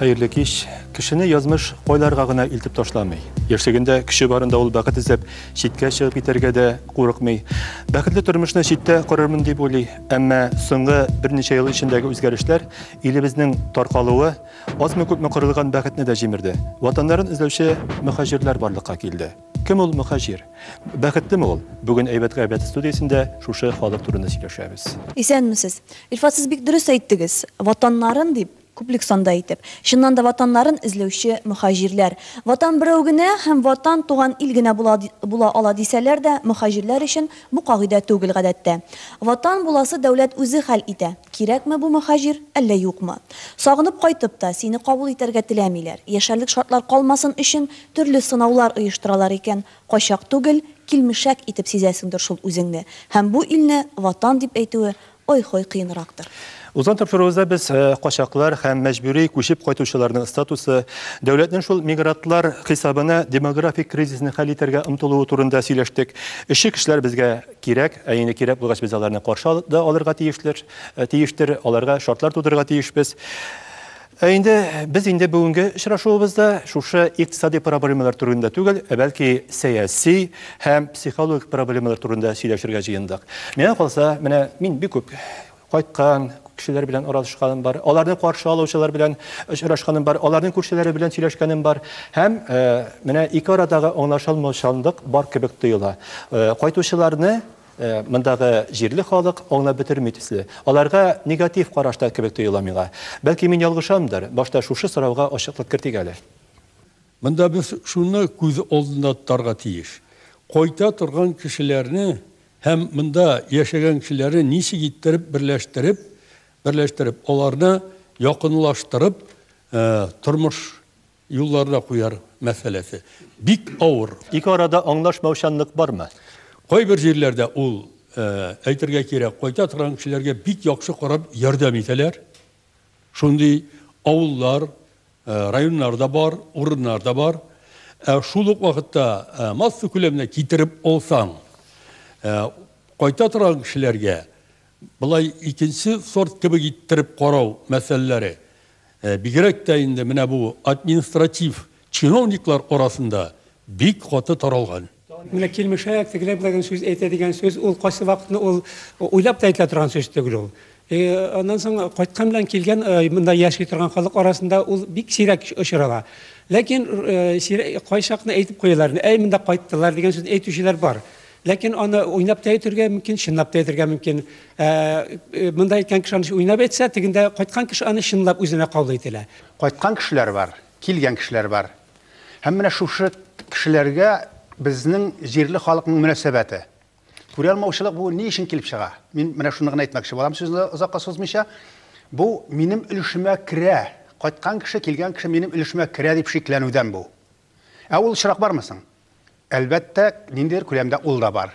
Хәерле кич. Кешене язмыш кайларга гына илтеп ташламый. Яшьлегендә көче барында ул бәхет эзләп читкә чыгып китәргә дә курыкмый. Бәхетле тормышны читтә корырмын дип уйлый. Әмма соңгы берничә ел эчендәге үзгәрешләр, илебезнең таркалуы азмы-күпме кырылган бәхетне дә җимерде. Ватаннарын эзләүче мөхаҗирләр барлыкка килде. Кем ул мөхаҗир? Бәхетлеме ул? Бүген Әйбәт-гайбәт студиясендә шушы халык турында сөйләшәбез. Исәнмесез. Илфат, сез бик дөрес әйттегез. Ватаннарын дип, Күплек санда итеп. Чыннан да Ватаннарын эзләүче мөхаҗирләр. Ватан берәү генә һәм Ватан, туган ил генә була була ала дисәләр дә, мөхаҗирләр өчен бу кагыйдә түгел гадәттә. Ватан буласы дәүләт үзе хәл итә, кирәкме бу мөхаҗир, әллә юкмы. Сагынып кайтып та, сине кабул итәргә теләмиләр. Яшәрлек шартлар калмасын өчен, төрле сынаулар оештыралар икән, качак түгел, килмешәк итеп сизәсеңдер шул үзеңне. Һәм бу илне Ватан дип әйтүе ой-хой кыенрактыр. Узган тапшыруыбызда без качаклар һәм мәҗбүри күчеп кайтучыларның статусы, дәүләтнең шул мигрантлар хисабына демографик кризисны хәл итәргә омтылуы турында сөйләштек. Эшче кешеләр безгә кирәк, ә инде кирәк булгач, без аларны каршы да алырга тиешләр, тиештер, аларга шартлар тудырырга тиешбез. Ә инде без инде бүгенге очрашуыбызда шушы икътисади проблемалар турында түгел, ә бәлки сәяси һәм психологик проблемалар турында сөйләшергә җыендык. Миңа калса, менә мин бик күп кайткан кешеләр белән аралашканым бар, аларны каршы алучылар белән очрашканым бар, аларның күршеләре белән сөйләшкәнем бар һәм менә ике арадагы аңлашылмаучанлык бар кебек тоела. Кайтучыларны Мондагы җирле халык аңлап бетерми төсле. Аларга негатив карашта кебек тоела миңа. Бәлки мин ялгышамдыр, башта шушы сорауга ачыклык кертик әле. Монда без шуны күз алдында тотарга тиеш, кайта торган кешеләрне һәм монда яшәгән кешеләрне ничек иттереп берләштереп, берләштереп, аларны якынлаштырып тормыш. Юлларда куяр мәсьәләсе бик авыр. Ике арада аңлашмаучанлык бармы? Кайбер җирләрдә ул, әйтергә кирәк, кайта торган кешеләргә бик яхшы карап ярдәм итәләр. Шундый авыллар, районнар да бар, урыннар да бар. Ә шул ук вакытта масса күләменә китереп алсаң, кайта торган кешеләргә болай икенче сорт кебек иттереп карау мәсьәләләре Бигрәк тә инде менә бу административ чиновниклар арасында бик каты таралган. Менә килмешә, тегеләр беләгән сүз әйтә дигән сүз, ул кайсы вакытны ул уйлап та әйтелә торган сүз түгел ул. И аннан соң кайткан белән килгән монда яши торган халык арасында ул бик сирәк очрала. Ләкин кайчакны әйтеп куялар, әй монда кайттылар дигән сүзне әйтүчеләр бар. Ләкин аны уйнап та әйтергә мөмкин, чынлап та әйтергә мөмкин. Ә, э, монда әйткән кеше аны уйнап әйтсә, тегендә кайткан кеше аны чынлап үзенә кабул итә. Кайткан кешеләр бар, килгән кешеләр бар. Һәм менә шушы кешеләргә безнең җирле халыкның мөнәсәбәте. Күралмаучылык бу ни өчен килеп чыга? Мин менә шуны гына әйтмәкче булам сүзне озакка сузмыйча. Бу минем өлешемә керә. Кайткан кеше, килгән кеше минем өлешемә керә дип шикләнүдән бу. Ә ул очрак бармы соң? Әлбәттә, ниндидер күләмдә ул да бар.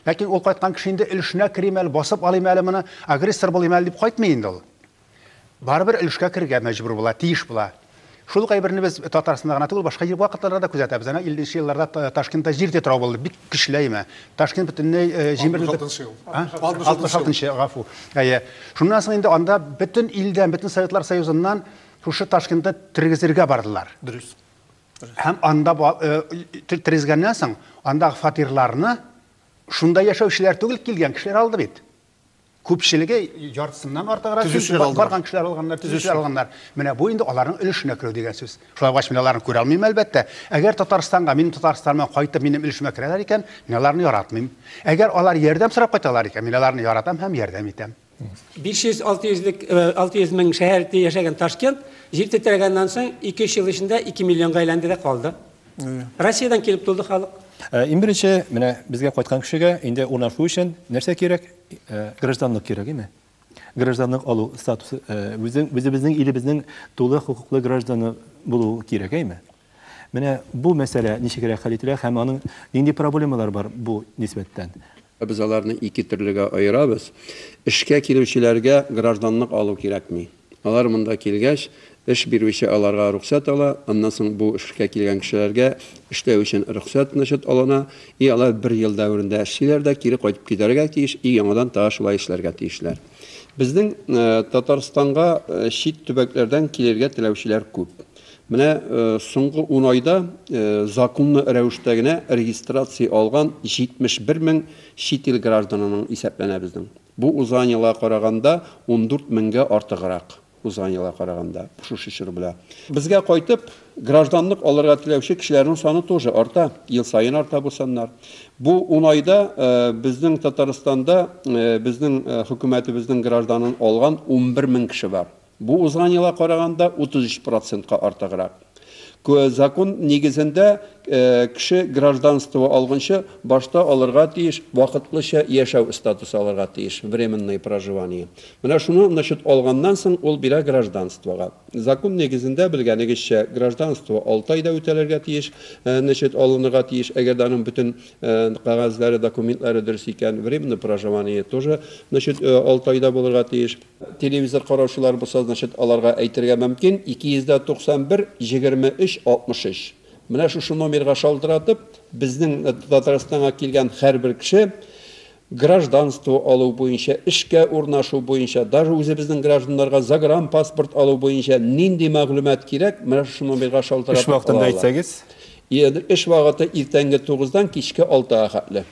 Ләкин ул кайткан кеше инде өлешенә керим әле, басып алыйм әле моны, агрессор булыйм әле дип кайтмый инде ул. Барыбер өлешкә керергә мәҗбүр була, тиеш була. Шул ук әйберне без Татарстанда гына түгел, башка ел вакытларда да күзәтәбез. Әнә 50 нче елларда Та- Ташкентта җир тетрәү булды, бик көчле әйме. Ташкент бөтенләй э, җимерелде. 66-нчы ел. А? 66-нчы 66-нчы, гафу. Әйе. Шуннан соң инде анда бөтен илдән, бөтен Советлар Союзыннан шушы Ташкентны тергезергә бардылар. Дөрес. Һәм анда тергезгәннән соң, андагы фатирларны шунда яшәүчеләр түгел килгән кешеләр алды бит. Күпчелеге яртысыннан артыграк барган кешеләр алганнар, төзүчеләр алганнар. Менә бу инде аларның өлешенә керү дигән сүз. Шулай булгач, мин аларны күрә алмыйм, әлбәттә. Әгәр Татарстанга, минем Татарстаныма кайтып, минем өлешемә керәләр икән, мин аларны яратмыйм. Әгәр алар ярдәм сорап кайталар икән, мин аларны яратам һәм ярдәм итәм. 500-600 мең шәһәр итеп яшәгән Ташкент җир тетрәгәннән соң 2-3 ел эчендә 2 миллионга әйләнде дә калды. Россиядән килеп тулды халык. Иң беренче, менә безгә кайткан кешегә инде урнашу өчен нәрсә кирәк? Гражданлык кирәк, әйме? Гражданлык алу статусы, үзебезнең илебезнең тулы хокуклы гражданы булу кирәк, әйме? Менә бу мәсьәлә ничегрәк хәл ителә һәм аның нинди проблемалары бар бу нисбәттән? Без аларны ике төрлегә аерабыз. Эшкә килүчеләргә гражданлык алу кирәкми. Алар монда килгәч, эш бирүче аларга рөхсәт ала, аннан соң бу эшкә килгән кешеләргә эшләү өчен рөхсәт, значит, алына, и алар бер ел дәверендә эшлиләр дә кире кайтып китәргә тиеш, и яңадан тагы шулай эшләргә тиешләр. Безнең Татарстанга чит төбәкләрдән килергә теләүчеләр күп. Менә соңгы ун айда законлы рәвештә генә регистрация алган 71 мең чит ил гражданының исәпләнә безнең. Бу узган елга караганда ундүрт меңгә артыграк, узган елга караганда, шушы чор белә. Безгә кайтып, гражданлык алырга теләүче кешеләрнең саны тоже арта, ел саен арта бу саннар. Бу ун айда безнең Татарстанда безнең хөкүмәтебезнең гражданын алган унбер мең кеше бар. Бу узган елга караганда 33 процентка артыграк. Закон нигезендә, кеше гражданство алгынчы башта алырга тиеш вакытлыча яшәү статусы алырга тиеш, временное проживание. Менә шуны, значит, алганнан соң ул бирә гражданствога. Закон нигезендә, белгәнегезчә, гражданство алты айда үтәлергә тиеш, значит, алынырга тиеш, әгәр дә аның бөтен кәгазьләре, документлары дөрес икән. Временное проживание тоже, значит, алты айда булырга тиеш. Телевизор караучылар булса, значит, аларга әйтергә мөмкин, 291 23 63. Менә шушы номерга шалтыратып, безнең Татарстанга килгән һәрбер кеше гражданство алу буенча, эшкә урнашу буенча, даже үзебезнең гражданнарга загранпаспорт алу буенча нинди мәгълүмат кирәк, менә шушы номерга шалтыратып ала алалар. Эш вакытында әйтсәгез? Эш вакыты иртәнге 9 дан кичке 6 га хәтле.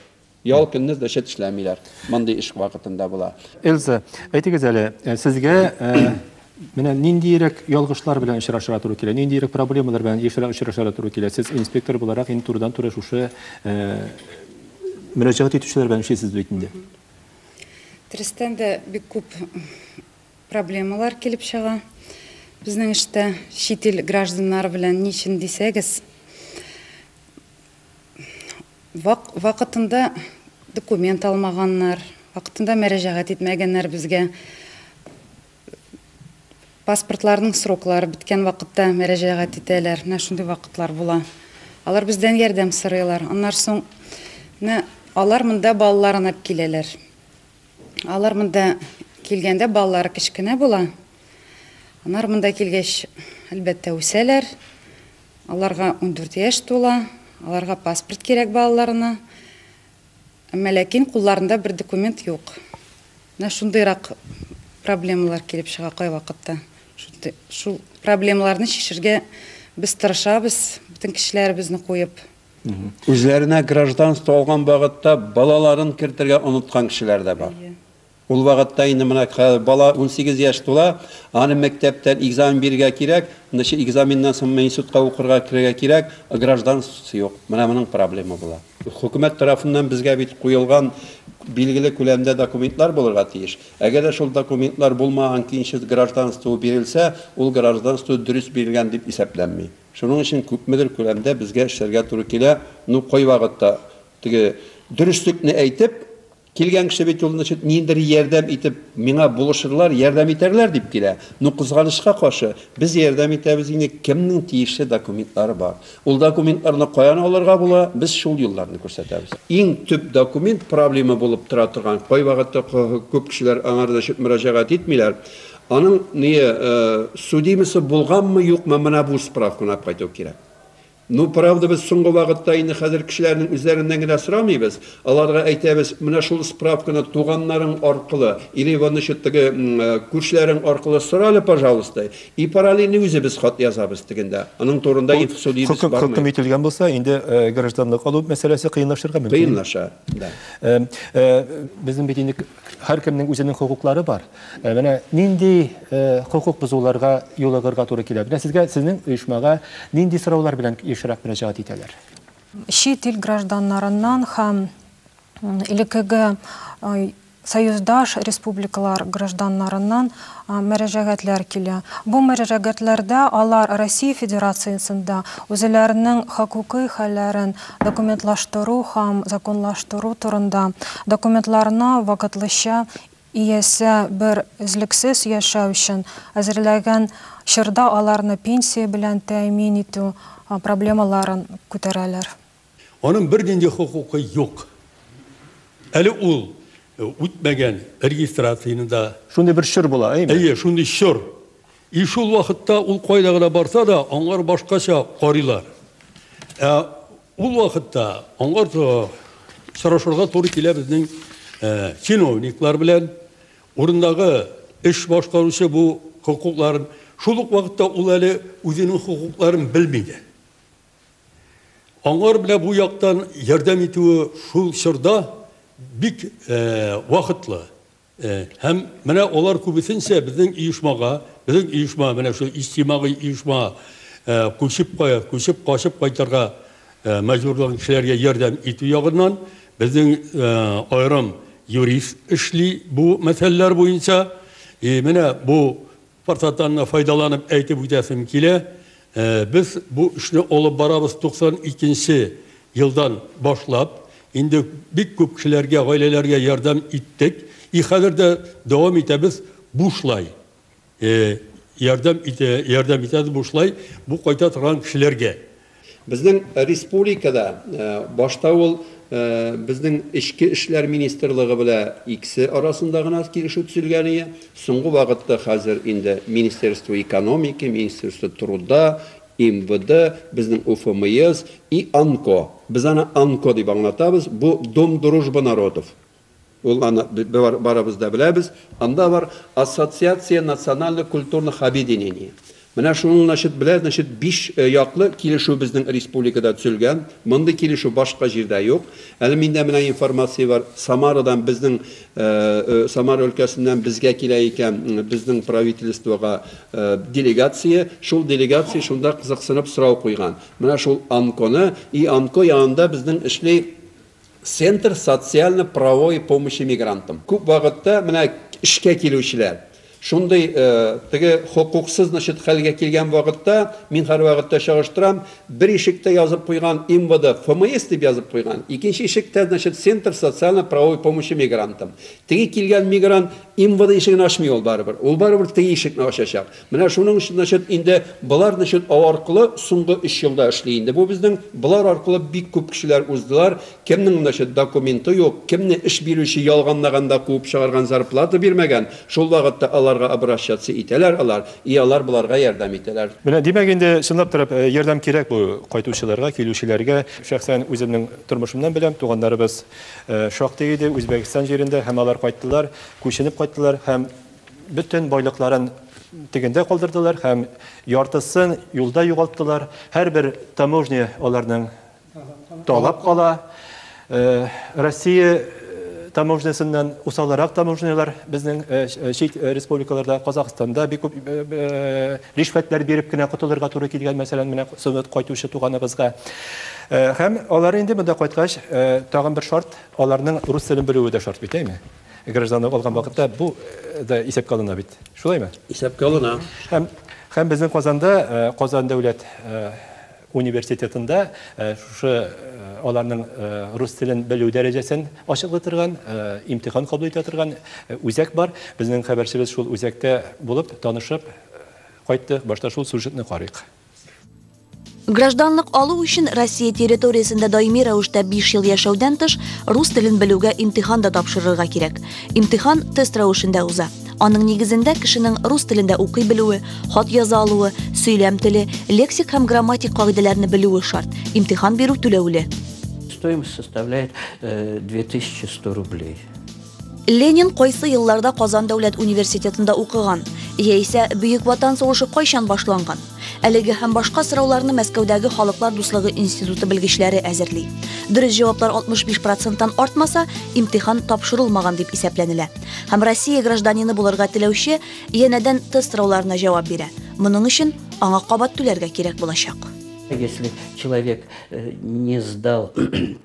Ял көнне зачет эшләмиләр. Мондый эш вакытында була. Эльза, әйтегез әле, э, сезгә э, менә ниндиерәк ялгышлар белән очрашырга туры килә? Ниндиерәк проблемалар белән ешрак очрашырга туры килә? Сез инспектор буларак инде турыдан туры шушы э, мөрәҗәгать итүчеләр белән эшлисез бит инде. Дөрестән дә бик күп проблемалар килеп чыга. Безнең эштә чит ил гражданнары белән ничен дисәгез, Вак, вакытында документ алмаганнар, вакытында мәрәҗәгать итмәгәннәр безгә. Паспортларның сроклары беткән вакытта мәрәҗәгать итәләр. Менә шундый вакытлар була. Алар бездән ярдәм сорыйлар. Аннар соң менә алар монда балаларын алып киләләр. Алар монда килгәндә балалары кечкенә була. Аннар монда килгәч, әлбәттә, үсәләр. Аларга ундүрт яшь тула, аларга паспорт кирәк балаларына. Әмма ләкин кулларында бер документ юк. Менә шундыйрак проблемалар килеп чыга кайвакытта. Шул проблемаларны чишергә без тырышабыз, бөтен кешеләребезне куеп. Үзләренә гражданство алган вакытта балаларын кертергә оныткан кешеләр дә бар. Ул вакытта инде менә хәзер бала унсигез яшь тула, аны мәктәптән экзамен бирергә кирәк, значит, экзаменнан соң мин институтка укырга керергә кирәк, гражданствосы юк. Менә моның проблема була. Хөкүмәт тарафыннан безгә бит куелган билгеле күләмдә документлар булырга тиеш. Әгәр дә шул документлар булмаган көенчә гражданство бирелсә, ул гражданство дөрес бирелгән дип исәпләнми. Шуның өчен күпмедер күләмдә безгә эшләргә туры килә, ну, кайвакытта теге дөреслекне әйтеп, Килгән кеше бит ул, значит, ниндер ярдәм итеп миңа булышырлар, ярдәм итәрләр дип килә. Ну, кызганычка каршы, без ярдәм итәбез инде, кемнең тиешле документлары бар. Ул документларны каян алырга була, без шул юлларны күрсәтәбез. Иң төп документ проблема булып тора торган, кайвакытта күп кешеләр аңар, значит, мөрәҗәгать итмиләр, аның, ние, судимосы булганмы, юкмы, менә бу справканы алып кайту кирәк. Ну, правда, без соңгы вакытта инде хәзер кешеләрнең үзләреннән генә сорамыйбыз, аларга әйтәбез, менә шул справканы туганнарың аркылы или вот, значит, теге күршеләрең аркылы сора әле, пожалуйста, и параллельно үзебез хат язабыз тегендә. Аның турында инфсо дибез бармый. Бу хөкем ителгән булса, инде гражданлык алу мәсьәләсе кыенлашырга мөмкин. Кыенлаша, да. Безнең бит инде Һәркемнең үзенең хокуклары бар. Э, менә нинди э, хокук бозуларга юлыгырга туры килә? Менә сезгә сезнең оешмага нинди сораулар белән ешрак мөрәҗәгать итәләр? Чит ил гражданнарыннан һәм элеккеге союздаш республикалар гражданнарыннан мөрәҗәгатьләр килә. Бу мөрәҗәгатьләрдә алар Россия Федерациясендә үзләренең хокукый хәлләрен документлаштыру һәм законлаштыру турында документларны вакытлыча иясе бер өзлексез яшәү өчен әзерләгән чорда аларны пенсия белән тәэмин итү проблемаларын күтәрәләр. Аның бернинди хокукы юк. Әле ул үтмәгән регистрацияне дә. Шундый бер чор була, әйеме? Әйе, шундый чор. И шул вакытта ул кайда гына барса да, аңар башкача карыйлар. Ә ул вакытта аңар сорашырга туры килә безнең чиновниклар белән, урындагы эш башкаручы бу хокукларын, шул ук вакытта ул әле үзенең хокукларын белми дә. Аңар менә бу яктан ярдәм итүе шул чорда бик вакытлы. Һәм менә алар күбесенчә безнең оешмага, безнең оешма, менә шул иҗтимагый оешма күчеп күчеп качып кайтырга мәҗбүрланган кешеләргә ярдәм итү ягыннан безнең аерым юрист эшли бу мәсьәләләр буенча. И менә бу Форсаттан да файдаланып әйтеп үтәсем килә, без бу эшне алып барабыз 92 нче елдан башлап. Инде бик күп кешеләргә, гаиләләргә ярдәм иттек. И хәзер дә дәвам итәбез бушлай. Ярдәм итә, ярдәм итәбез бушлай бу кайта торган кешеләргә. Безнең республикада башта ул безнең Эчке эшләр министрлыгы белә иксе арасында гына килешү төзелгәние, соңгы вакытта хәзер инде Министерство экономики, Министерство труда, МВД, безнең УФМИС и АНКО, без аны АНКО дип аңлатабыз, бу Дом дружбы народов, Ул аны барыбыз да беләбез. Анда бар Ассоциация национально-культурных объединений. Менә шуның, значит, белән, значит, биш яклы килешү безнең республикада төзелгән. Мондый килешү башка җирдә юк. Әле миндә менә информация бар, Самарадан безнең, Самара өлкәсеннән безгә килә икән, безнең правительствога делегация. Шул делегация шунда кызыксынып сорау куйган. Менә шул АНКОны, и АНКО янында безнең эшли. Центр социально правовой помощи мигрантам. Күп вакытта менә эшкә килүчеләр шундый теге хокуксыз значит хәлгә килгән вакытта, мин һәрвакытта чагыштырам, бер ишектә язып куйган МВД ФМС дип язып куйган, икенче ишектә значит Центр социально правовой помощи мигрантам. Теге килгән мигрант МВД ишеген ачмый ул барыбер. Ул барыбер теге ишекне ачачак. Менә шуның өчен, значит, инде болар, значит, ау аркылы соңгы өч елда эшли инде бу безнең. Болар аркылы бик күп кешеләр уздылар. Кемнең, значит, документы юк, кемне эш бирүче ялганлаганда куып чыгарган, зарплата бирмәгән, шул вакытта аларга обращаться итәләр алар, и алар боларга ярдәм итәләр. Менә, димәк, инде чынлап та ярдәм кирәк бу кайтучыларга, килүчеләргә. Шәхсән үземнең тормышымнан беләм, туганнарыбыз шактый иде Үзбәкстан җирендә һәм алар кайттылар, күченеп кайттылар һәм, Бөтен байлыкларын тегендә калдырдылар һәм яртысын юлда югалттылар. Һәрбер таможня аларның талап кала. Э, Россия э, таможнясыннан усалрак таможнялар безнең э, чит республикаларда, Казахстанда бик күп ришвәтләр биреп кенә котылырга туры килгән, мәсәлән, менә сынып кайтучы туганыбызга. Һәм алар инде монда кайткач, тагын бер шарт, аларның рус телен белүе дә шарт бит, әйме? гражданлык алган вакытта бу да исәпкә алына бит. Шулаймы? Исәпкә алына. Һәм һәм безнең Казанда, Казан дәүләт университетында шушы аларның рус телен белү дәрәҗәсен ачыклый торган, имтихан кабул итә торган үзәк бар. Безнең хәбәрчебез шул үзәктә булып, танышып кайтты. Башта шул сюжетны карыйк. Гражданлык алу өчен Россия территориясендә даими рәвештә 5 ел яшәүдән тыш, рус телен белүгә имтихан да тапшырырга кирәк. Имтихан тест рәвешендә уза. Аның нигезендә кешенең рус телендә укый белүе, хат яза алуы, сөйләм теле, лексик һәм грамматик кагыйдәләрне белүе шарт. Имтихан бирү түләүле. Стоимость составляет 2100 э, рублей. Ленин кайсы елларда Казан дәүләт университетында укыган? Яисә Бөек Ватан сугышы кайчан башланган? Әлеге һәм башка сорауларны Мәскәүдәге Халыклар дуслыгы институты белгечләре әзерли. Дөрес җаваплар 65 проценттан артмаса, имтихан тапшырылмаган дип исәпләнелә. Һәм Россия гражданины булырга теләүче янәдән тест сорауларына җавап бирә. Моның өчен аңа кабат түләргә кирәк булачак. Если человек э, не сдал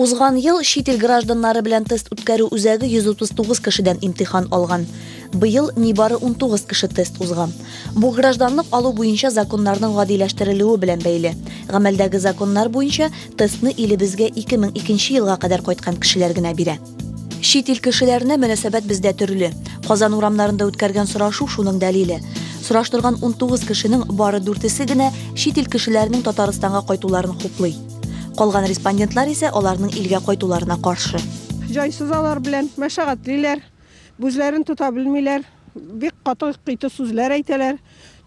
Узган ел чит ил гражданнары белән тест үткәрү үзәге 139 кешедән имтихан алган. Быел нибары унтугыз кеше тест узган. Бу гражданлык алу буенча законнарның гадиләштерелүе белән бәйле. Гамәлдәге законнар буенча тестны илебезгә 2002 елга кадәр кайткан кешеләр генә бирә. Чит ил кешеләренә мөнәсәбәт бездә төрле. Казан урамнарында үткәргән сорашу шуның дәлиле. Сораштырган унтугыз кешенең бары дүртесе генә чит ил кешеләренең Татарстанга кайтуларын хуплый. Калган респондентлар исә аларның илгә кайтуларына каршы. Җайсыз алар белән мәшәкатьлиләр, үзләрен тота белмиләр, бик каты кыйты сүзләр әйтәләр,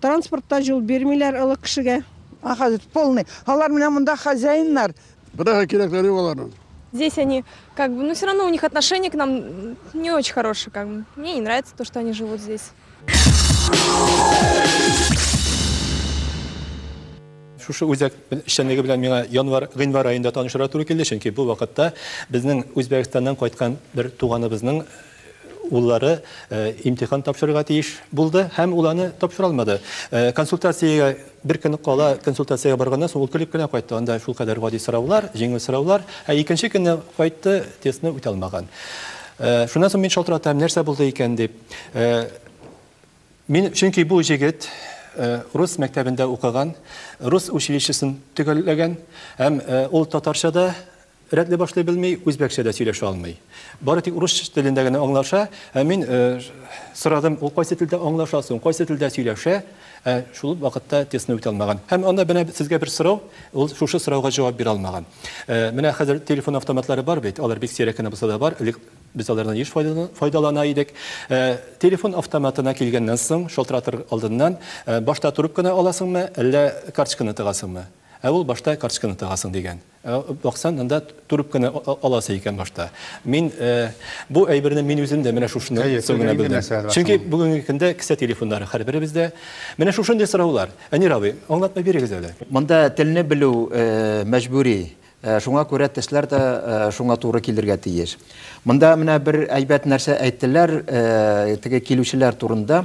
транспортта юл бирмиләр олы кешегә. А хәзер полный. Алар менә монда хозяиннар. Быраһа кирәкләре юк аларның. Здесь они как бы, ну все равно у них отношение к нам не очень хорошее, как бы. Мне не нравится то, что они живут здесь. шушы үзәк эшчәнлеге белән миңа январ гыйнвар аенда танышырга туры килде чөнки бу вакытта безнең үзбәкстаннан кайткан бер туганыбызның уллары э, имтихан тапшырырга тиеш булды һәм ул аны тапшыра алмады э, консультациягә Бер көн кала консультациягә барганнан соң ул көлеп кенә кайтты, анда шулкадәр гади сораулар, җиңел сораулар. Ә икенче көнне кайтты, тестны үтә алмаган. Шуннан соң мин шалтыратам, нәрсә булды икән дип. Мин, чөнки бу җегет рус мәктәбендә укыган, рус училищесын төгәлләгән һәм ул татарча да, Рәтле башлый белми, үзбәкчә дә сөйләшә алмый. Бары тик урыс телендә генә аңлаша. Ә мин сорадым, ул кайсы телдә аңлаша соң, кайсы телдә сөйләшә? Ә шул вакытта тестны үтә алмаган. Һәм анда менә сезгә бер сорау, ул шушы сорауга җавап бирә алмаган. Менә хәзер телефон автоматлары бар бит, алар бик сирәк кенә булса да бар, элек без алардан еш файдалана идек. Телефон автоматына килгәннән соң, шалтыратыр алдыннан, башта трубканы аласыңмы, әллә карточканы тыгасыңмы? Ә ул башта карточканы тыгасың дигән. Баксаң, анда трубканы аласы икән башта. Мин бу әйберне мин үзем дә менә шушыннан соң гына белдем. Чөнки бүгенге көндә кесә телефоннары һәрберебездә. Менә шушындый сораулар. Әнир абый, аңлатма бирегез әле. Монда телне белү мәҗбүри. Шуңа күрә тешләр дә шуңа туры килергә тиеш. Монда менә бер әйбәт нәрсә әйттеләр теге килүчеләр турында.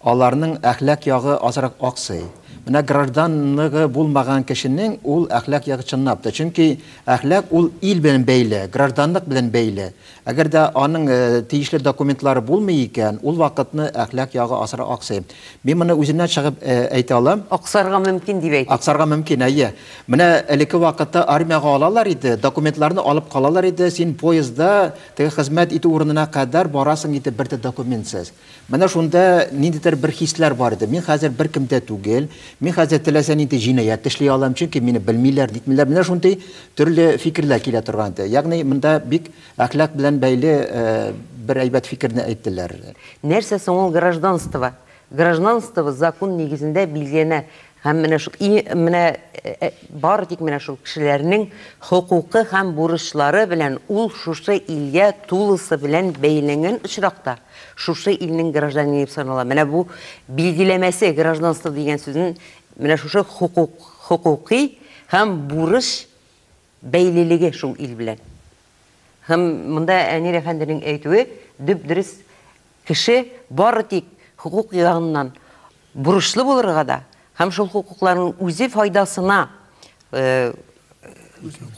Аларның әхлак ягы азрак аксый. Менә гражданлыгы булмаган кешенең ул әхлак ягы чынлап та, чөнки әхлак ул ил белән бәйле, гражданлык белән бәйле. Әгәр дә аның тиешле документлары булмый икән, ул вакытны әхлак ягы асыра аксый. Мин моны үземнән чыгып әйтә алам. Аксарга мөмкин дип әйтик. Аксарга мөмкин, әйе. Менә элекке вакытта армиягә алалар иде, документларны алып калалар иде, син поездда теге хезмәт итү урынына кадәр барасың иде бер дә документсыз. Менә шунда ниндидер бер хисләр бар иде. Мин хәзер беркем дә түгел, мин хәзер теләсә нинди җинаять эшли алам, чөнки мине белмиләр, нитмиләр. Менә шундый төрле фикерләр килә торган иде. Ягъни монда бик әхлак белән бәйле бер әйбәт фикерне әйттеләр. Нәрсә соң ул гражданство? Гражданство закун нигезендә билгеләнә. Һәм менә шул и менә бары тик менә шул кешеләрнең хокукы һәм бурычлары белән ул шушы илгә тулысы белән бәйләнгән очракта шушы илнең гражданины дип санала. Менә бу билгеләмәсе гражданство дигән сүзнең менә шушы хокук, хокукый һәм бурыч бәйлелеге шул ил белән. Һәм монда Әнир әфәнденең әйтүе дөп-дөрес, кеше бары тик хокук ягыннан бурычлы булырга да һәм шул хокукларын үзе файдасына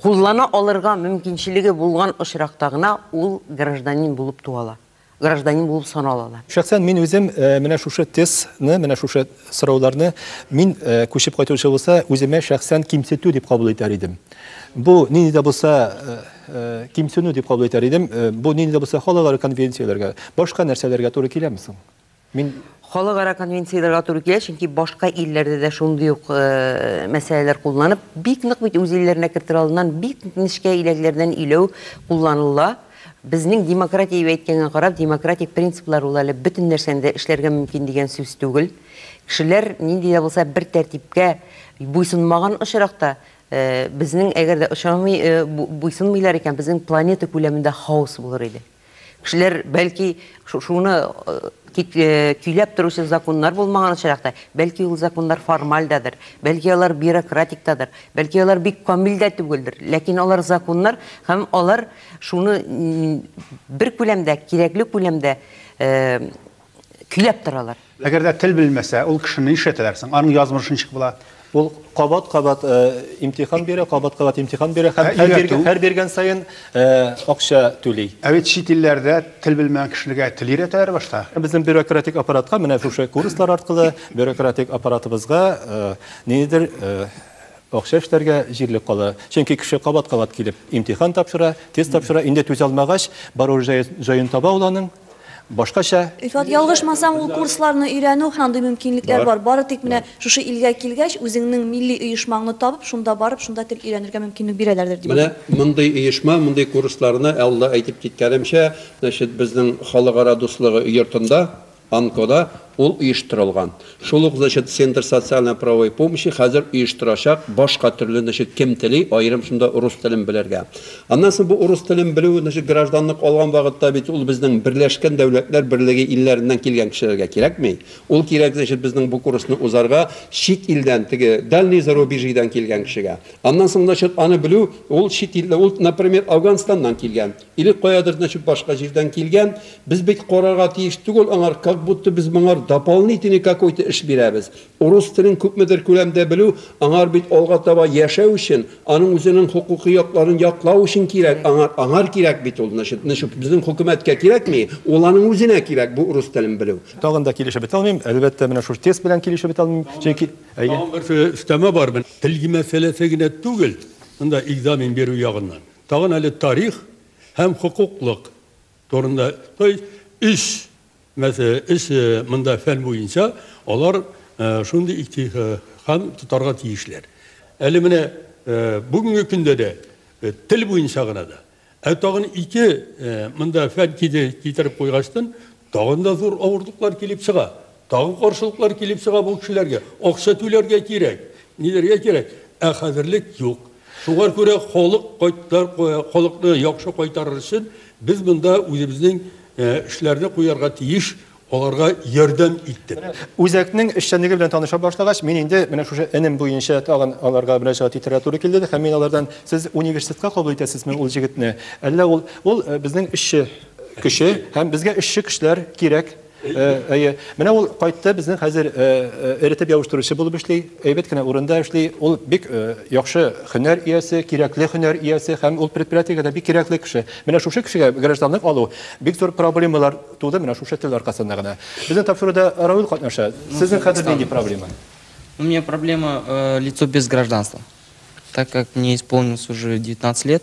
куллана алырга мөмкинчелеге булган очракта гына ул гражданин булып туа ала. гражданин булып саналалар. Шәхсән мин үзем менә шушы тестны, менә шушы сорауларны мин күчеп кайтучы булса, үземә шәхсән кимсетү дип кабул итәр идем. Бу нинди дә булса кимсенү дип кабул итәр идем. Бу нинди дә булса халыкара конвенцияләргә, башка нәрсәләргә туры киләме соң? Мин Халыкара конвенцияләргә туры килә, чөнки башка илләрдә дә шундый ук э, мәсьәләләр кулланып, бик нык бит үз илләренә кертер алдыннан бик нечкә иләкләрдән иләү кулланыла. Безнең демократия дип әйткәнгә карап, демократик принциплар ул әле бөтен нәрсәне дә эшләргә мөмкин дигән сүз түгел. Кешеләр нинди дә булса бер тәртипкә буйсынмаган очракта, э, безнең әгәр дә очрамый, э, бу- буйсынмыйлар икән, безнең планета күләмендә хаос булыр иде. Кешеләр, бәлки, шуны көйләп торучы законнар булмаган очракта, бәлки ул законнар формаль дадыр, бәлки алар бюрократик дадыр, бәлки алар бик камил дә түгелдер, ләкин алар законнар һәм алар шуны бер күләмдә, кирәкле күләмдә көйләп торалар. Әгәр дә тел белмәсә, ул кешене нишләтәләр соң? Аның язмышы ничек була? Ул кабат-кабат э, имтихан бирә, кабат-кабат имтихан бирә һәм һәр биргән, һәр биргән саен э, акча түли. Ә бит чит илләрдә тел белмәгән кешегә тел өйрәтәләр башта. Безнең бюрократик аппаратка менә шушы курслар аркылы бюрократик аппаратыбызга э, нидер акча эшләргә җирлек кала. Чөнки кеше кабат-кабат килеп имтихан тапшыра, тест тапшыра, инде түзә алмагач, бару җаен таба ул аның. Башкача. Рифат, ялгышмасам, ул курсларны өйрәнү һәм андый мөмкинлекләр бар. Бары тик менә шушы илгә килгәч, үзеңнең милли оешмаңны табып, шунда барып, шунда тел өйрәнергә мөмкинлек бирәләрдер, дип уйлыйм. Менә мондый оешма, мондый курсларны, алда әйтеп киткәнемчә, значит, безнең халыкара дуслыгы йортында, АНКОда Ул оештырылган. Шул ук, значит, Центр социальной правовой помощи хәзер оештырачак башка төрле, значит, кем тели, аерым шунда урыс телен белергә. Аннан соң бу урыс телен белү, значит, гражданлык алган вакытта бит ул безнең Берләшкән Дәүләтләр Берлеге илләреннән килгән кешеләргә кирәкми. Ул кирәк, значит, безнең бу курсны узарга чит илдән, теге дальний зарубежьедан килгән кешегә. Аннан соң, значит, аны белү, ул чит ил, ул, например, Афганстаннан килгән. Или каядыр начып башка җирдән килгән, без бит карарга тиеш түгел аңар, как будто без моңар дополнительный какой-то эш бирәбез. Урус телен күпмедер күләмдә белү аңар бит алга таба яшәү өчен, аның үзенең хокукый якларын яклау өчен кирәк, аңар, аңар кирәк бит ул, начып, начып безнең хөкүмәткә кирәкми, ул аның үзенә кирәк бу урус телен белү. Тагын да килешеп бетә алмыйм, әлбәттә, менә шул тест белән килешеп бетә алмыйм, чөнки, әйе. Тагын бер өстәмә бар, тел мәсьәләсе генә түгел, монда экзамен бирү ягыннан. Тагын әле тарих һәм хокуклык турында, то есть өч мәсьәлә, өч монда фән буенча алар шундый иктихам тотарга тиешләр. Әле менә бүгенге көндә дә тел буенча гына да. Ә тагын ике монда фән китереп куйгачтын, Тагын да зур авырлыклар килеп чыга. Тагын каршылыклар килеп чыга бу кешеләргә. Акча түләргә кирәк, ниләргә кирәк. Ә хәзерлек юк. Шуңар күрә халык кайтар, халыкны яхшы кайтарыр өчен без монда үзебезнең эшләрне куярга тиеш, аларга ярдәм иттек. Үзәкнең эшчәнлеге белән таныша башлагач, мин инде менә шушы энем буенча тагын аларга мөрәҗәгать итәргә туры килде һәм мин алардан, Сез университетка кабул итәсезме ул җегетне, әллә ул, ул безнең эшче, Кеше һәм безгә эшче кешеләр кирәк. Әйе. Менә ул кайтты, безнең хәзер эретеп ябыштыручы булып эшли, әйбәт кенә урында эшли. Ул бик яхшы һөнәр иясе, кирәкле һөнәр иясе һәм ул предприятиегә дә бик кирәкле кеше. Менә шушы кешегә гражданлык алу бик зур проблемалар туды, менә шушы тел аркасында гына. Безнең тапшыруда Равил катнаша. Сезнең хәзер нинди проблема? У меня проблема лицо без гражданства, так как мне исполнилось уже 19 лет.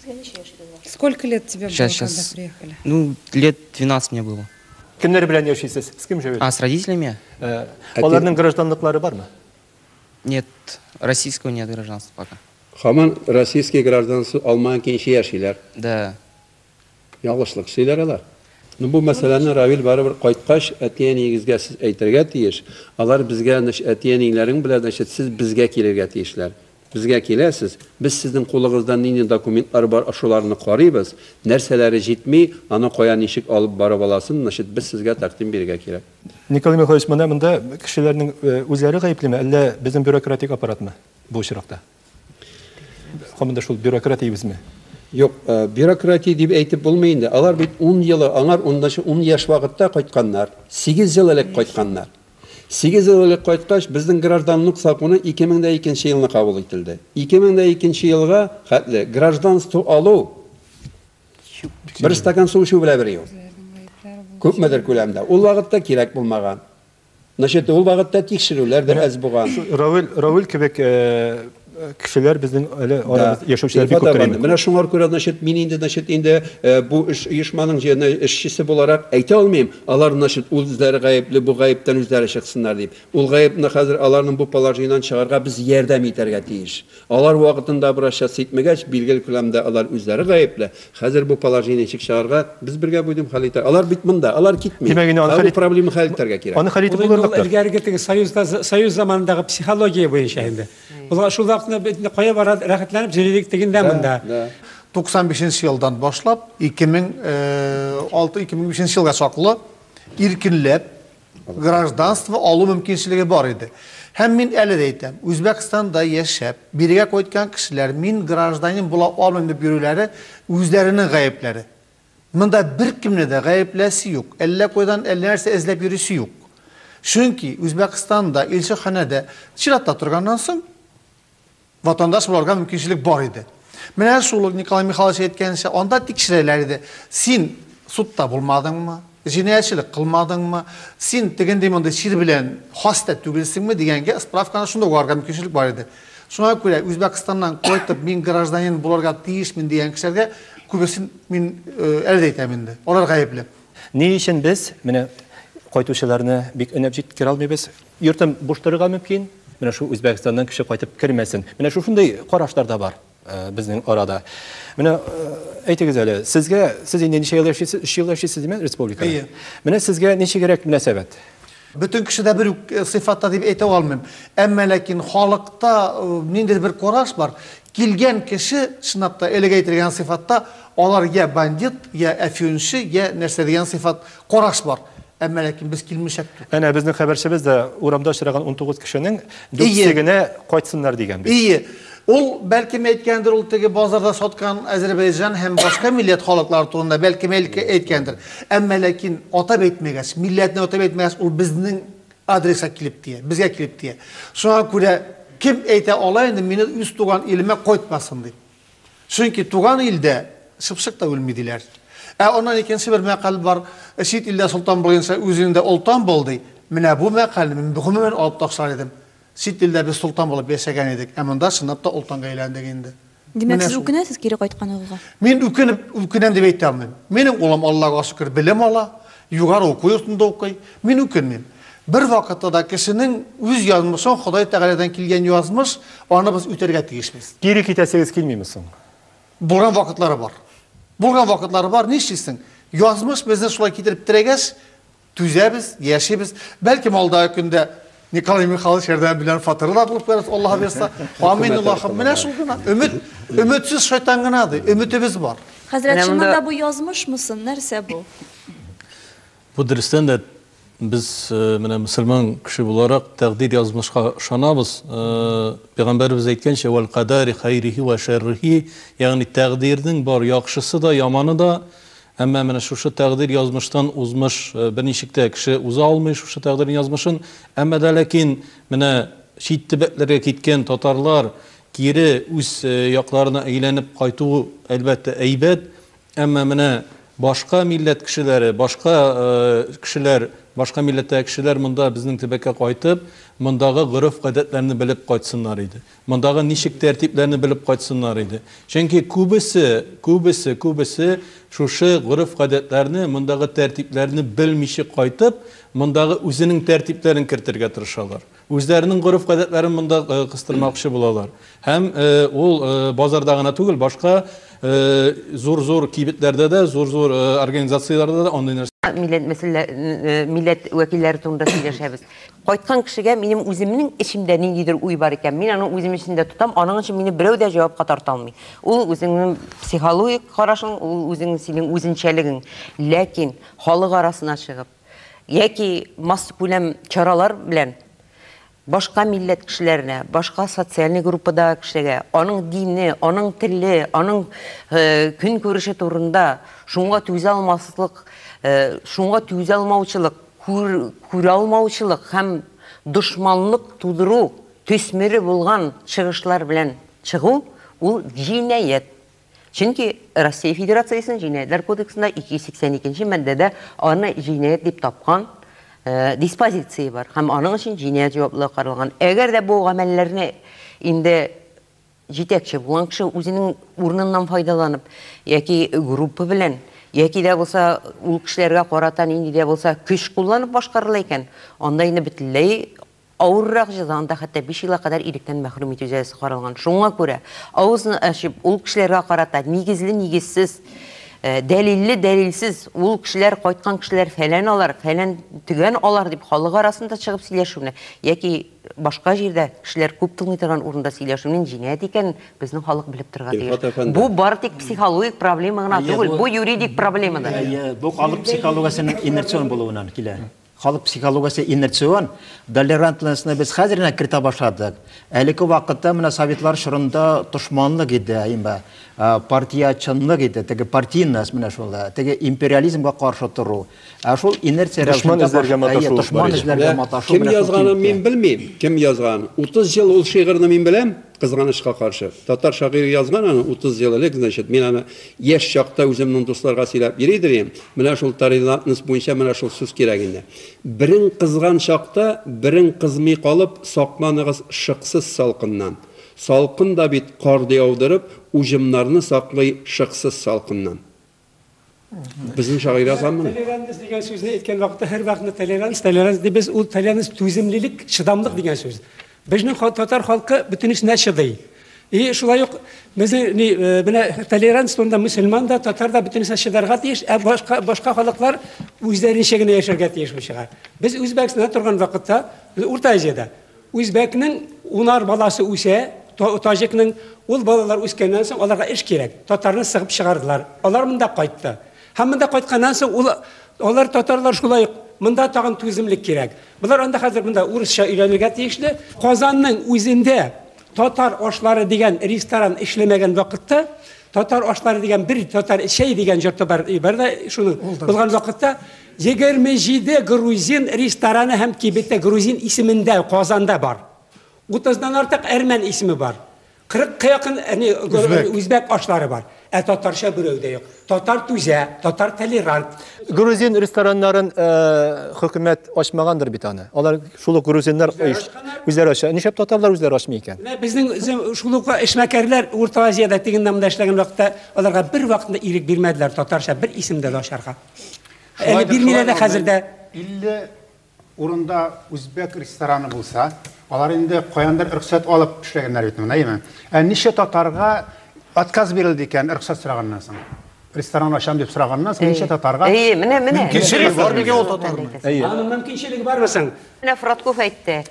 Сезгә ничә яшь булган? Сколько лет тебе было, когда приехали? Ну, лет 12 мне было. Кемнәр белән яшисез? С кем живете? А, с родителями? Э, аларның гражданлыклары бармы? Нет, российского нет гражданства пока. Хаман российский гражданство алмаган кенче яшиләр. Да. Ялгышлык сөйләр алар. Ну, бу мәсьәләне Равил барыбер кайткач, әти-әниегезгә сез әйтергә тиеш. Алар безгә, значит, әти-әниләрең белән, значит, сез безгә килергә тиешләр. Безгә киләсез, без сезнең кулыгызда нинди документлар бар, шуларны карыйбыз, нәрсәләре җитми, аны кая ничек алып барып аласын, значит, без сезгә тәкъдим бирергә кирәк. Николай Михайлович, менә монда кешеләрнең үзләре гаеплеме, әллә безнең бюрократик аппаратмы бу очракта? Команда шул бюрократ дибезме? Юк, бюрократия дип әйтеп булмый инде. Алар бит ун елы, аңар унынчы ун яшь вакытта кайтканнар, сигез ел элек кайтканнар. Сигез ел элек кайткач, безнең гражданлык законы 2002 нче елны кабул ителде. 2002 нче елга хәтле гражданство алу, бер стакан су эчү белән бер ел. Күпмедер күләмдә. Ул вакытта кирәк булмаган. Значит, ул вакытта тикшерүләр дә әз булган. Равил, Равил кебек, э, кешеләр безнең әле арабыз яшәүчеләр бик күптер инде. Менә шуңар күрә, значит, мин инде, значит, инде э, бу эш оешманың җиренә эшчесе буларак әйтә алмыйм, алар, значит, үзләре гаепле, бу гаептән үзләре чыксыннар дип. Ул гаепне хәзер аларның бу положениедән чыгарга без ярдәм итәргә тиеш. Алар вакытында бераз час итмәгәч, билгеле күләмдә алар үзләре гаепле, Хәзер бу положение ничек чыгарга? Без бергә будем хәл итә. Алар бит монда, алар китми. Димәк, инде аны Ә хәл бу ит- проблема хәл итәргә кирәк. Аны хәл итеп Ул инде ул булырлык та. элгәреге теге союзда союз заманындагы психология буенча инде. Ул шул вакытны бит инде кая бара рәхәтләнеп җөрилек тегендә монда. Да. 95 нче елдан башлап 2006-2005 елга чаклы иркенләп гражданство алу мөмкинчелеге бар иде. Һәм мин әле дә әйтәм, Үзбәкстанда яшәп, бирегә кайткан кешеләр мин гражданин була алмыйм дип йөрүләре үзләренең гаепләре. Монда беркемне дә гаепләсе юк, әллә кайдан әллә нәрсә эзләп йөрисе юк. Чөнки Үзбәкстанда, илчеханәдә чиратта торганнан соң, Ватандаш буларга мөмкинчелек бар иде. Менә шул ук Николай Михайлович әйткәнчә, анда тикшерәләр иде. Син судта булмадыңмы? Җинаятьчелек кылмадыңмы? Син тегендей мондый чир белән хаста түгелсеңме дигәнгә справканы шунда угарга мөмкинчелек бар иде. Шуңа күрә Үзбәкстаннан кайтып, мин гражданин буларга тиешмен дигән кешеләргә күбесен мин э, әле дә әйтәм инде. Алар гаепле. Ни өчен без менә кайтучыларны бик өнәп җиткерә алмыйбыз? Йортым буш торырга мөмкин. Менә шул Үзбәкстаннан кеше кайтып кермәсен. Менә шул шундый карашлар да бар безнең арада. Менә әйтегез әле, сезгә, сез инде ничә ел яшисез? Өч ел яшисез, диме, республика? Әйе. Менә сезгә ничегрәк мөнәсәбәт? Бөтен кеше дә бер үк сыйфатта дип әйтә алмыйм. Әмма ләкин халыкта ниндидер бер караш бар. Килгән кеше, чынлап та, элек әйтелгән сыйфатта, алар йә бандит, йә әфьюнчы, йә нәрсә дигән сыйфат Караш бар. Әмма ләкин без килмешәк. Әнә безнең хәбәрчебез дә урамда очраган 19 кешенең дүртсе генә кайтсыннар дигән бит. Ие. Ул бәлкем әйткәндер, ул теге базарда саткан Азербайҗан һәм башка милләт халыклары турында бәлкем әйткәндер. Әмма ләкин атап әйтмәгәч, милләтне атап әйтмәгәч, ул безнең адреска килеп тия, безгә килеп тия. Шуңа күрә кем әйтә ала инде, мине үз туган илемә кайтмасын дип. Чөнки туган илдә чыпчык та үлми диләр. Ә аннан икенче бер мәкаль бар, чит илдә солтан булгынча үзеңдә олтан бул ди. Менә бу мәкальне мин гомумән алып ташлар идем. Чит илдә без солтан булып яшәгән идек, ә монда чынлап та олтанга әйләндек инде. Димәк, сез үкенәсез кире кайтканыгызга? Мин үкенеп, үкенәм дип әйтә алмыйм. Минем улым, Аллага шөкер, белем ала, Югары уку йортында укый. Мин үкенмим. Бервакытта да кешенең үз язмышын Ходай Тәгаләдән килгән язмыш, аны без үтәргә тиешбез. Кире китәсегез килмиме соң? Булган вакытлары бар. Булган вакытлары бар, нишлисең? Язмыш безне шулай китереп терәгәч, түзәбез, яшибез. Бәлкем алдагы көндә Николай Михайлович ярдәм белән фатиры да булып керәс, Аллаһ бирсә. Амин, Аллаһым. Менә шул гына. Өмет, өметсез шайтан гына ди. Өметебез бар. Хәзрәт, чыннан да бу язмышмы сон, нәрсә бу? Бу дөрестән дә без э, менә мусульман кеше буларак тәкъдир язмышка ышанабыз. Э, пәйгамбәребез әйткәнчә, "Вал кадари хайрихи ва шаррихи", ягъни тәкъдирнең бар яхшысы да, яманы да Әмма менә шушы тәкъдир язмыштан узмыш берничек тә кеше уза алмый шушы тәкъдирнең язмышын. Әмма дә ләкин менә чит төбәкләргә киткән татарлар кире үз якларына әйләнеп кайту әлбәттә әйбәт. Әмма менә башка милләт кешеләре, башка кешеләр, башка милләттәге кешеләр монда безнең төбәккә кайтып, мондагы гореф-гадәтләрне белеп кайтсыннар иде. Мондагы ничек тәртипләрне белеп кайтсыннар иде. Чөнки күбесе, күбесе, күбесе шушы гореф-гадәтләрне, мондагы тәртипләрне белмиче кайтып, мондагы үзенең тәртипләрен кертергә тырышалар. Үзләренең гореф-гадәтләрен монда кыстырмакчы булалар. Һәм ул базарда гына түгел, башка зур-зур кибетләрдә дә, зур-зур организацияләрдә дә андый нәрсә. Милләт мәсьәлә, милләт вәкилләре турында сөйләшәбез. Кайткан кешегә минем үземнең эчемдә ниндидер уй бар икән, мин аны үзем эчендә тотам, аның өчен мине берәү дә җавапка тарта алмый. Ул үзеңнең психологик карашың, ул үзең, синең үзенчәлегең. Ләкин халык арасына чыгып яки массакүләм чаралар белән башка милләт кешеләренә, башка социальный группадагы кешегә аның дине, аның теле, аның көнкүреше турында шуңа түзә алмаслык, шуңа түзә алмаучылык, Күр, күралмаучылык һәм дошманлык тудыру төсмере булган чыгышлар белән чыгу, ул җинаять. Чөнки Россия Федерациясенең Җинаятьләр кодексында 280 икенче маддәдә аны җинаять дип тапкан диспозиция бар һәм аның өчен җинаять җаваплылыгы каралган. Әгәр дә бу гамәлләрне инде Җитәкче булган кеше үзенең урыныннан файдаланып, яки группа белән, яки дә булса ул кешеләргә карата нинди дә булса көч кулланып башкарыла икән, анда инде бөтенләй авыррак җәза, анда хәтта биш елга кадәр иректән мәхрүм итү җәзасы каралган. Шуңа күрә, авызны ачып, ул кешеләргә карата нигезле-нигезсез, дәлилле-дәлилсез, ул кешеләр, кайткан кешеләр фәлән алар, фәлән-төгән алар дип халык арасында чыгып сөйләшүне, яки Башка җирдә кешеләр күп тыңлый торган урында сөйләшүнең җинаять икәнен безнең халык белеп торырга тиеш. Илфат әфәнде. Бу бары тик психологик проблема гына Әйе, түгел, бу- бу юридик проблема да. Әйе, бу халык психологиясенең инерцион булуыннан килә. Халык психологиясе инерцион. Толерантностьны без хәзер генә кертә башладык. Әлеге вакытта менә советлар чорында дошманлык иде, әйме, а, партиячанлык иде, теге партийность менә шул, ә, теге империализмга каршы тору. Ә шул инерция Дошман рәвешендә эзләргә баш- маташу Әйе, дошман бар иде. эзләргә Менә маташу Кем менә шул язганын кибеткә. мин белмим. Кем язган? 30 ел ул шигырьне мин беләм, кызганычка каршы. Татар шагыйре язган аны 30 ел элек, значит, мин аны яшь чакта үземнең дусларга сөйләп йөри идем идем. Менә шул торелантность буенча менә шул сүз кирәк инде. Берең кызган чакта, берең кызмый калып, сакланыгыз шыксыз салкыннан. Салкын да бит карды яудырып, уҗымнарны саклый шыксыз салкыннан. Безнең шагыйрь язганмы? Толеранс дигән сүзне әйткән вакытта һәрвакытны толеранс, толеранс дип без ул толеранс түземлелек, чыдамлык дигән сүз. Безнең татар халкы бөтенесенә чыдый. И шулай ук безнең ни э, менә толеранс турында мусульман да, татар да бөтенесенә чыдарга тиеш, ә башка башка халыклар үзләренчә генә яшәргә тиеш бу чыга. Без Үзбәкстанда торган вакытта, Урта Азиядә Үзбәкнең унар баласы үсә, таҗикның ул балалар үскәннән соң аларга эш кирәк. Татарны сыгып чыгардылар. Алар монда кайтты. Һәм монда кайтканнан соң ул алар татарлар шулай ук монда тагын түземлек кирәк. Болар анда хәзер монда урысча өйрәнергә тиешле. Казанның үзендә татар ашлары дигән ресторан эшләмәгән вакытта, татар ашлары дигән бер татар чәй дигән җорты бар, бар да шуның булган вакытта, Егерме җиде грузин рестораны һәм кибете грузин исемендә Казанда бар. Утыздан артык әрмән исеме бар. Кырыкка якын үзбәк ашлары бар. Ә татарча берәү дә юк. Татар түзә, татар толерант. Грузин рестораннарын хөкүмәт ачмагандыр бит аны. Алар шул ук грузиннар үзләре ача. Нишләп татарлар үзләре ачмый икән? Менә безнең шул ук эшмәкәрләр Урта Азиядә тегендә-монда эшләгән вакытта аларга бервакытта ирек бирмәделәр татарча бер исемдә дә ачарга. Әле бирмиләр дә хәзер дә. 50 урында үзбәк рестораны булса, алар инде каяндыр рөхсәт алып эшләгәннәр бит моны, әйеме? Ә ничә татарга отказ бирелде икән рөхсәт сораганнан соң? Ресторан ачам дип сораганнан соң ничә татарга? Әйе, менә, менә. Кеше бар микән ул татарның? Әйе. Аның мөмкинчелеге бармы соң? Менә Фратков әйтте,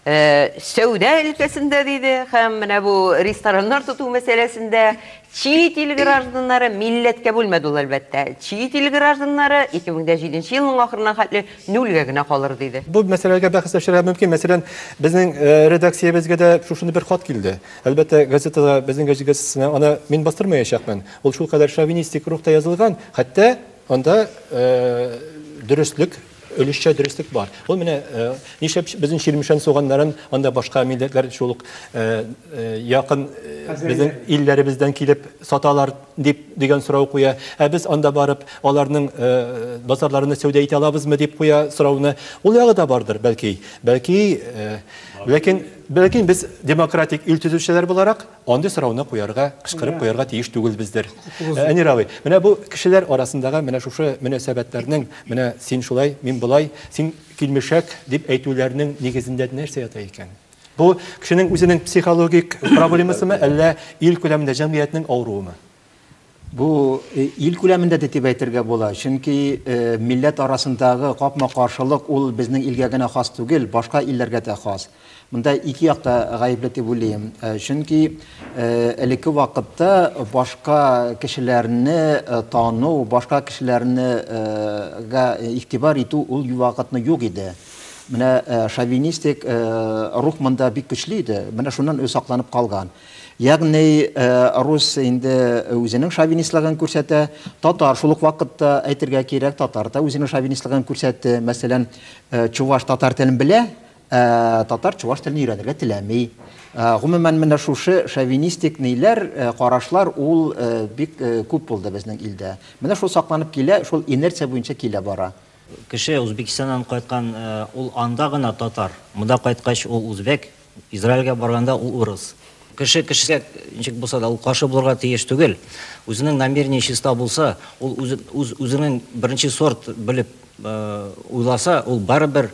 сәүдә өлкәсендә диде һәм менә бу рестораннар тоту мәсьәләсендә чит ил гражданнары милләткә бүлмәде ул әлбәттә. Чит ил гражданнары 2007 елның ахырына хәтле нульгә генә калыр диде. Бу мәсьәләгә бәхәсләшергә мөмкин. Мәсәлән, безнең редакциябезгә дә шушындый бер хат килде. Әлбәттә, газетада, безнең газетасына аны мин бастырмаячакмын. Ул шулкадәр шовинистик рухта язылган, хәтта анда дөреслек Өлешчә дөреслек бар. Ул менә нишләп безнең Чирмешән суганнарын анда башка милләтләр шул ук якын безнең илләребездән килеп саталар дип дигән сорау куя. Ә без анда барып аларның базарларында сәүдә итә алабызмы дип куя сорауны. Ул ягы да бардыр, бәлки. Бәлки, ләкин без демократик ил төзүчеләр буларак, Андый сорауны куярга, кычкырып куярга тиеш түгелбездер. Әнир абый, менә бу кешеләр арасындагы менә шушы мөнәсәбәтләрнең, менә син шулай, мин болай, син килмешәк, дип әйтүләрнең нигезендә нәрсә ята икән? Бу кешенең үзенең психологик проблемасымы, әллә ил күләмендә җәмгыятьнең авыруымы? Бу ил күләмендә дә дип әйтергә була, чөнки милләт арасындагы капма-каршылык ул безнең илгә генә хас түгел, башка илләргә дә хас. Монда ике як та гаепле дип уйлыйм, чөнки элекке вакытта башка кешеләрне тану, башка кешеләрне га игътибар итү ул ювакытны юк иде. Менә шовинистик рух монда бик көчле иде, менә шуннан үзе сакланып калган. Ягъни рус инде үзенең шовинистлыгын күрсәтә, татар шул ук вакытта әйтергә кирәк, татар да үзенең шовинистлыгын күрсәтте. Мәсәлән, чуваш татар телен белә, ә татар чуваш телен өйрәнергә теләми. Гомумән, менә шушы шовинистик ниләр, карашлар ул бик күп булды безнең илдә. Менә шул сакланып килә, шул инерция буенча килә бара. Кеше Узбекистаннан кайткан, ул анда гына татар, монда кайткач ул узбек, Израильгә барганда ул урыс. Кеше кешегә ничек булса да ул каршы булырга тиеш түгел. Үзенең намерение чиста булса, ул үз үзенең беренче сорт белеп уйласа, ул барыбер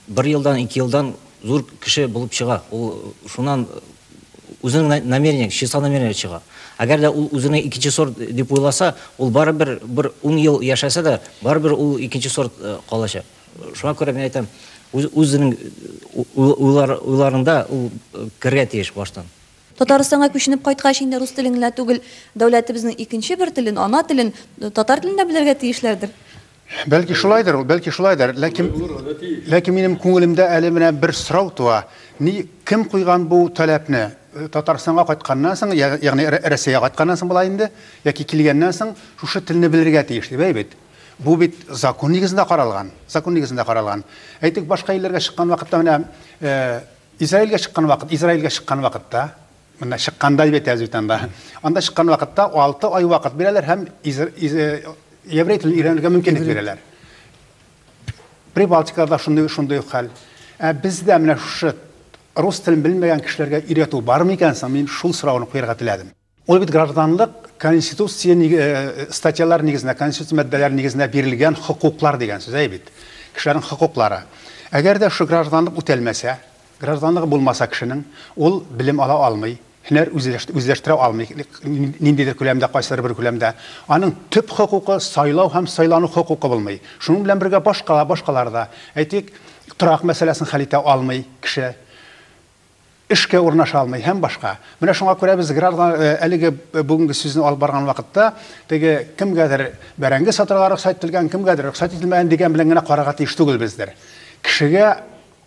бер елдан, ике елдан зур кеше булып чыга. Ул шуннан Үзенең намерениең, чиста намерение чыга. Әгәр дә ул үзенең икенче сорт дип уйласа, ул барыбер бер ун ел яшәсә дә, барыбер ул икенче сорт калачак. Шуңа күрә мин әйтәм, үз, үзенең уйлар, уйларында ул керергә тиеш баштан. Татарстанга күченеп кайткач инде рус телен генә түгел, дәүләтебезнең икенче бер телен, ана телен, татар телен дә белергә тиешләрдер? Бәлки шулайдыр ул, бәлки шулайдыр, ләкин ләкин минем күңелемдә әле менә бер сорау туа. Ни кем куйган бу таләпне? Татарстанга кайтканнан соң, ягъни Россиягә кайтканнан соң була инде, яки килгәннән соң шушы телне белергә тиеш дип, әй бит. Бу бит закон нигезендә каралган, закон нигезендә каралган. Әйтик, башка илләргә чыккан вакытта менә Израилгә чыккан вакыт, Израилгә чыккан вакытта, Монда чыкканда бит әз бит анда. Анда чыккан вакытта 6 ай вакыт бирәләр һәм еврей телен өйрәнергә мөмкинлек бирәләр. Прибалтикада шундый шундый хәл. Ә бездә менә шушы рус телен белмәгән кешеләргә өйрәтү бар микән соң? Мин шул сорауны куярга теләдем. Ул бит гражданлык конституция э, статьялар нигезендә, конституция маддәләре нигезендә бирелгән хокуклар дигән сүз әй бит. Кешеләрнең хокуклары. Әгәр дә шул гражданлык үтәлмәсә, Гражданлыгы булмаса кешенең, ул белем ала алмый, һөнәр үзләштерә алмый, ниндидер күләмдә, кайсыдыр бер күләмдә. Аның төп хокукы, сайлау һәм сайлану хокукы булмый. Шуның белән бергә башка, башкалар да. Әйтик, торак мәсьәләсен хәл итә алмый кеше, эшкә урнаша алмый һәм башка. Менә шуңа күрә без граждан, әлеге бүгенге сүзне алып барган вакытта, теге кемгәдер бәрәңге сатырга рөхсәт ителгән, кемгәдер рөхсәт ителмәгән дигән белән генә карарга тиеш түгел бездер. Кешегә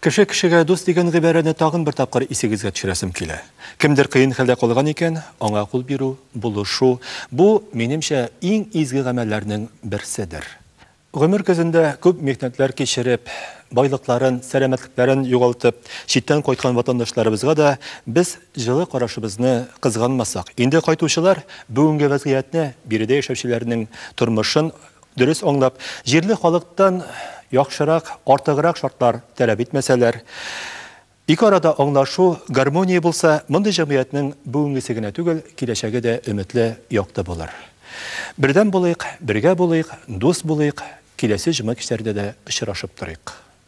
Кеше кешегә дус дигән гыйбарәне тагын бер тапкыр исегезгә төшерәсем килә. Кемдер кыен хәлдә калган икән, аңа кул бирү, булышу, бу, минемчә, иң изге гамәлләрнең берседер. Гомер көзендә күп михнәтләр кичереп, байлыкларын, сәламәтлекләрен югалтып, читтән кайткан ватандашларыбызга да без җылы карашыбызны кызганмасак, инде кайтучылар бүгенге вәзгыятьне, биредә яшәүчеләрнең тормышын Дөрес аңлап, җирле халыктан яхшырак, артыграк шартлар таләп итмәсәләр, ике арада аңлашу, гармония булса, мондый җәмгыятьнең бүгенгесе генә түгел, киләчәге дә өметле, якты булыр. Бердәм булыйк, бергә булыйк, дус булыйк, киләсе җома кичләрендә дә очрашып торыйк.